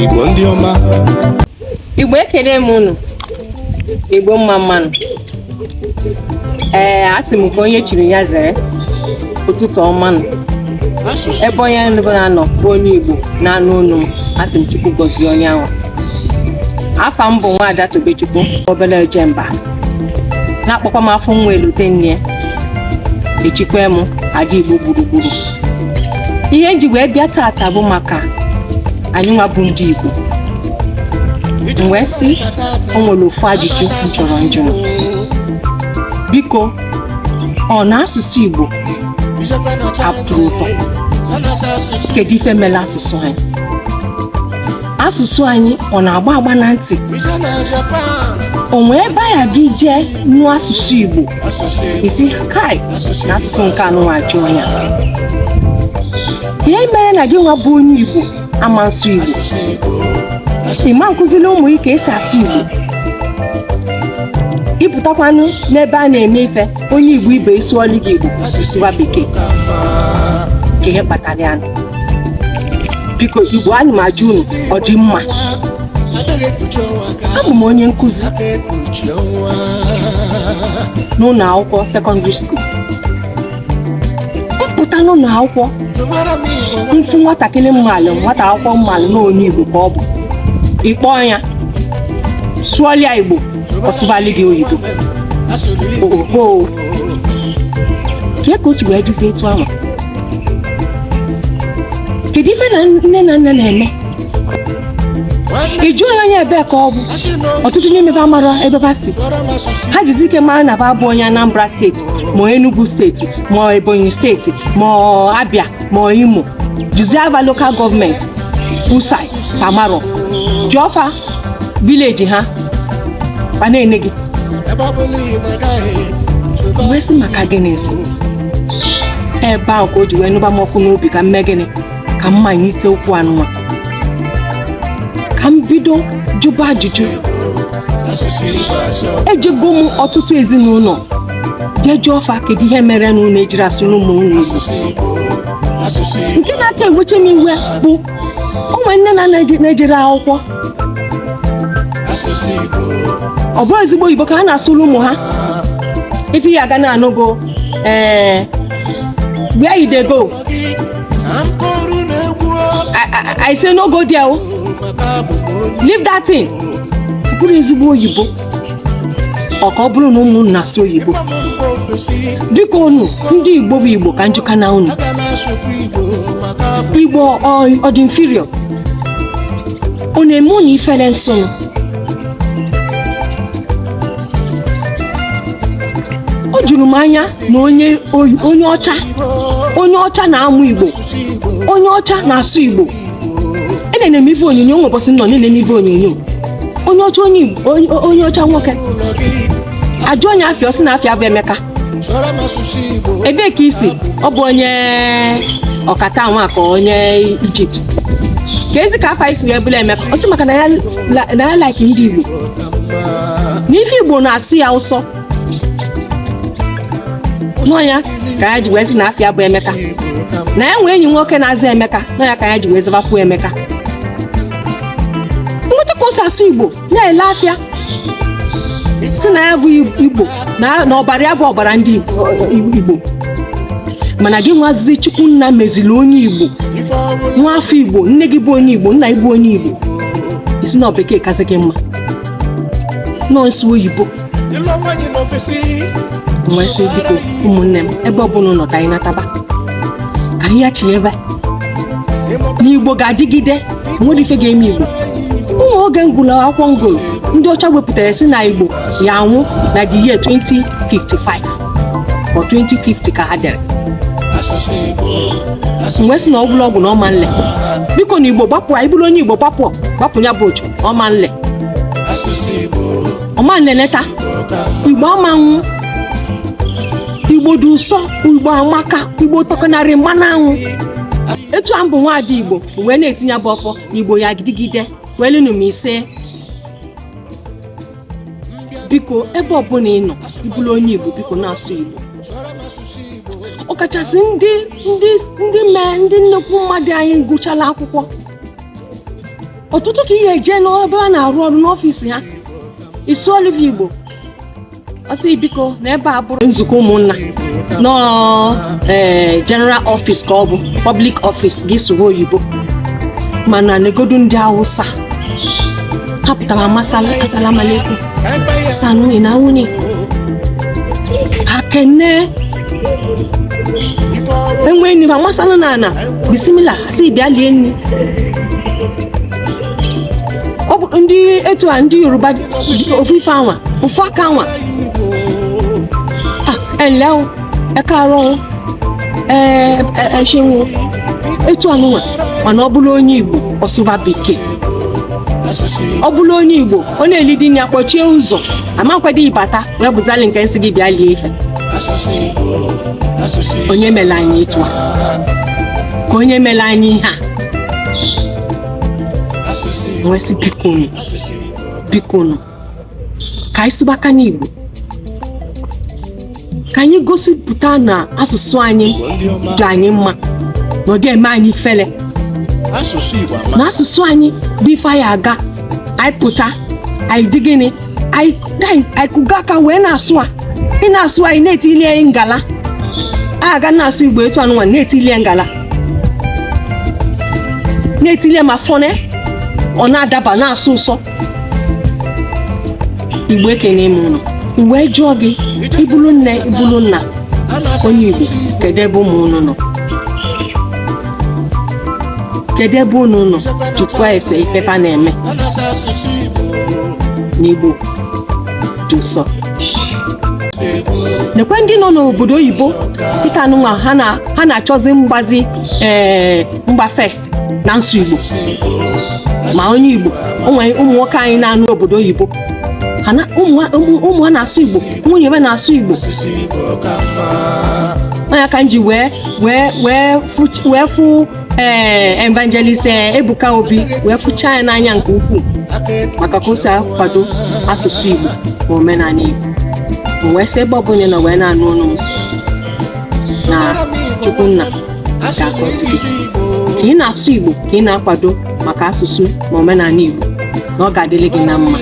Igbo ndị ọma Igbo ekene m unu Igbo mma mma nụ ee asị m ka onye chiri ya zere ụtụtụ ọma nụ ebe onye ọbụla nọ bụ onye Igbo na-anụ onu m asị m Chukwu gọzie onye ahụ afa m bụ nwaada Tobechukwu obere ojemba na-akpọkwa m afụ nwa elote nne ya echikwa m Ada igbo gburugburu ihe m ji wee bịa taata bụ maka anyị nwa bụ ndị igbo m wee sị o nwere ofu ajụjụ m chọrọ njụ biko ọ na asụsụ igbo atọrọ ụtọ kedu ife mere asụsụ anyị asụsụ anyị ọ na-agba agba na ntị o nwee ebe anyị ga-eje nụ asụsụ igbo ị sị kai na asụsụ nke anụnwa ajụ ọnya ihe mere na gị nwa bụ onye igbo ama nsụ igbo ị ma nkụziri ụmụ gị ka esi asụ igbo ị pụtakwanụ n'ebe a na-eme ife onye igbo ibe ị sụọlụ gị igbo ị sụwa bekee kee ihe kpatara ya biko igbo ana m ajụ unu ọ dị mma abụ m onye nkụzi n'ụlọ akwụkwọ secondary school m pụta n'ụnọ akwụkwọ m fụ nwatakịrị m malụ nwata akwụkwọ m malụ na onye igbo ka ọ bụ ị kpọọ ya sụọlụ ya igbo ọ sụbalụ gị oyibo oo kee ka o si wee dịzi etu ahụ kedu ife na nne na nna na-eme ị jụọ ya onye ebee ka ọ bụ ọtụtụ n'ime ha amarọ ebe ha si ha jisi ike mara na ba bụ onye Anambra state ma ọ Enugu state ma ọ Ebonyi state ma ọ Abia ma ọ Imo jụzie fa local government usai fa amarọ jụọ fa village ha ana-ene gị wee sị maka gịnịzi ebe ahụ ka o ji wee nụba m ọkụ n'obi ka m mee gịnị ka m manite okwu anụnwa ka m bido jụba ajụjụ ejego m ọtụtụ ezinụnọ je jụọ fa kedu ihe mere na unu ejirọ asụrụ ụmụ unu Igbo nke na-aka ewecha m iwe bụ ụmụ nne na nna ejerọ akwụkwọ ọ bụrọ ezigbo oyibo ka ha na-asụrụ ụmụ ha ife ị ga na-anụ bụ ee where you dey go I- I- I say no go there o leave that thing ọ bụrọ ezigbo oyibo ọ ka ọ bụrụ na ụmụ unu na-asụ oyibo dịka unu ndị igbo bụ igbo ka m jụkene unu igbo ọ- ọ dị inferior ọ na-eme unu ifere nsonụ o juru m anya na onye onye ọcha onye ọcha na-amụ igbo onye ọcha na-asụ igbo enene m ife onyonyo nwe ụbọchị m nọ na-enene ife onyonyo onye ọcha onye Igbo- onye- onye ọcha nwoke a jụọ ya afa ya ọ sị na afa ya bụ emeka ebee ka i si ọ bụ onye Qatar nwa ka onye Egypt keezi ka afa gị si wee bụrụ emeka ọ sị maka na ya la- na ya like ndị igbo na ife igbo na-asọ ya ụsọ na ọ ya ka ya ji wee sị na afa ya bụ emeka na ya nwee enyi nwoke na-aza emeka na ọ ya ka ya ji wee zabakwuo emeka nweta ka o si asụ igbo na-ele afịa si na ya bụ igbo na na ọbara ya bụ ọbara ndị Igbo- igbo mana gị nwazizi chukwu nna meziri onye igbo nwa afọ igbo nne gị bụ onye igbo nna gị bụ onye igbo ị sị na bekee kasị gị mma na-asụ oyibo wee sị biko ụmụnne m ebe ọ bụla unu nọ ka anyị nataba ka anyị cheebe na igbo ga-adịgide nwerọ ife ga-eme igbo o nwee oge m gụlụ akwụkwọ ngolo ndị ọcha wepụtara si na igbo ya-anwụ na the year 2055 or 2050 ka ha dere m wee sị na ọ bụlụ ọgwụ na ọ ma nle biko na igbo gbapụ ị bụrụ onye igbo gbapụ gbapụ ya bụ ochu ọ ma nle ọ ma nleleta igbo ama anwụ igbo dị ụsọ igbo amaka igbo tọkanarị mmanụ aṅụ etu a m bụ nwaada igbo wee na-etinye bụ ọfọ igbo ya-adịgide welinu m ise biko ebe ọbụla ị nọ ị bụrụ onye igbo biko na-asụ igbo ọkachasị ndị ndị ndị mee ndị nnukwu mmadụ anyị gụchala akwụkwọ ọtụtụ ka ị ya-eje n'ebe a na-arụ ọrụ n'ọfịs ha ị sụọlụ va igbo ọ sị biko na ebe a bụrọ nzukọ ụmụnna na ọ ee general office ka ọ bụ public office gị sụọ oyibo mana negodu ndị awụsa ha pụta ba matsala assalamu alaikum sannu ina wuni akene enwe enyi ba matsala na ana bismillah sị bịa lie nri ọ bụ ndị etu a ndị yoruba ji ofu ife anwa ofu aka anwa Ah, ẹ ǹlẹ́ o ẹ káàárọ̀ o ẹ ẹ ẹ ṣeun o etu anụnwa mana ọ bụrụ onye igbo ọ sụba bekee ọ bụrụ onye igbo ọ na-eli nli ya kpọchie ụzọ amakwadị ibata wee bụzali nke ịsị gị bịa lie ife onye mele anyị etu a ka onye mele anyị ihe a m wee sị bikonu bikonu ka anyị sụbakwanụ igbo ka anyị gosipụta na asụsụ anyị dị anyị mma na ọ dị eme anyị ifele asụsụ Igbo ama na asụsụ anyị bụ ife anyị aga anyị pụta anyị dị gịnị anyị anyị- anyị kụga aka wee na-asụ a ị na-asụ a ị na-etili ya ngala a ga na-asụ igbo etu anụnwa na-etili ya ngala na-etili ya ma fọne ọ na-adaba na-asọ ụsọ igbo ekene m ụnụ wee jụọ gị ị bụlụ nne ị bụlụ nna onye igbo kedu ebe ụmụ ụnụ nọ kedu ebe unu nọ jụkwa ese ife fa na-eme na igbo dị ụsọ nekwa ndị nọ n'obodo oyibo dịka nụnwa ha na- ha na-achọzi mgbazi ee mgba first na nsụ igbo ma onye igbo o nwe ụmụ nwoke anyị na-anụ obodo oyibo ha na- ụmụ ha- ụmụ- ụmụ ha na-asụ igbo nwunye ha na-asụ igbo ọ ya ka m ji wee wee wee fụ- wee fụ ee evangelist ee, ebuka obi wee fụchaa ya n'anya nke ukwuu maka ka o si akwado asụsụ igbo na omenaanị igbo m wee sị ebe ọbụla ị nọ wee na-anụ ọnụ m na chukwu nna ga-agọzi gị ka ị na-asụ igbo ka ị na-akwado maka asụsụ na omenaanị igbo na ọ ga-adịlị gị na mma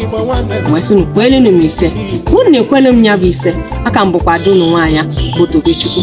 m wee sị unu kwelenu m ise unu na-ekwelu m ya bụ ise a ka m bụkwa ada unu nwaanyị bụ tobechukwu